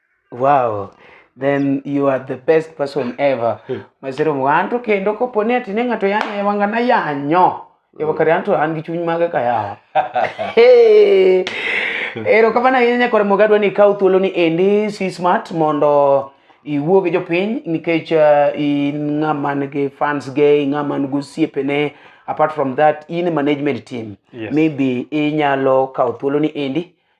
Wow. Then you are the best person ever. Hmm. Masiro mwanto kendo kopo ni atine ng'ato yanyo e wanga na yanyo. E wakati anto an gi chuny mage kaya. Hey. Ero kama na yenya kore mogadwa ni kau thuolo ni endi si smart mondo iwuo gi jopiny nikech uh, in ng'ama nigi fans ge ng'ama nigi osiepene apart from that in management team yes. maybe inyalo kawo thuolo ni endi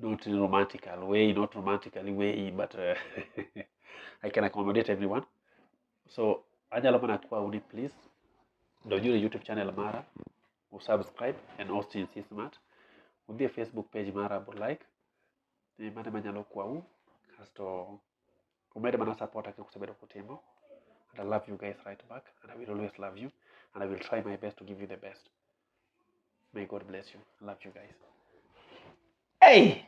not in a romantical way, not romantically way, but uh, I can accommodate everyone. So anyalo mana kwau ni please donjuru e YouTube channel mara, usubscribe and Austin C Smart. Udhi e Facebook page mara bu like. Ni mano ema nyalo kwau kasto umed mana support kaka usebedo kutimo. And I love you guys right back and I will always love you and I will try my best to give you the best. May God bless you. I love you guys. Hey!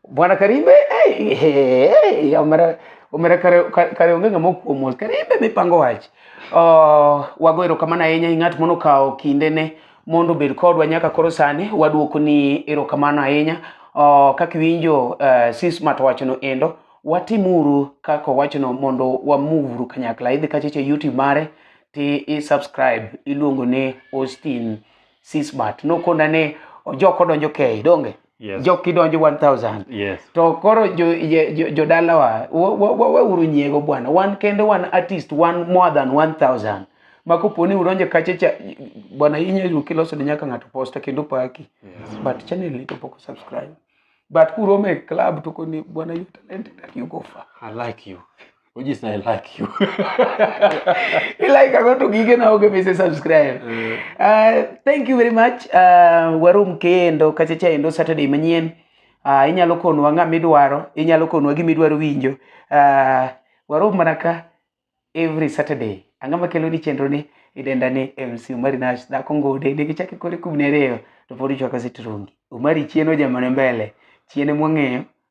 Bwana Karimbe, hey, hey, hey, umere umere kare kare onge ngamo kuomol Karimbe mipango wach. Uh, wago erokamano ahinya ni ng'at mono kawo kinde ne mondo obed kodwa nyaka koro sani waduoko ni erokamano ahinya uh, kaka iwinjo uh, sis matwachono endo watimuru kaka owachono mondo wamuvuru kanyakla idhi kacheche youtube mare ti i subscribe iluongo ni Austin Sismart nokona ni ojok odonjo kei donge yes. jok kidonjo 1000 yes. to koro jodalawa jo, jo waweuru wa, wa, nyiego bwana wan kende wan artist wan more than 1000 ma kopo ni udonjo kacha cha bwana inyalo kiloso ne nyaka ng'ato posta kendo paki yes. but channel ni to pok subscribe but kurome club to koni bwana you talented you go far i like you Ojis na I like you. I like I want to gig na oge mese subscribe. Eh. Uh, thank you very much. Uh, warum kendo kachacha endo Saturday manyien. Uh, inyalo konwa ng'a midwaro, inyalo konwa gima idwaro winjo. Uh, warum mana ka every Saturday. Ang'a makelo ni chenro ni idenda ni MC Umari Nash dhako ngode ne gichake kore kubne reyo to pod ichwaka sitrungi. Umari chieno jamane mbele. Chiene mwang'eyo.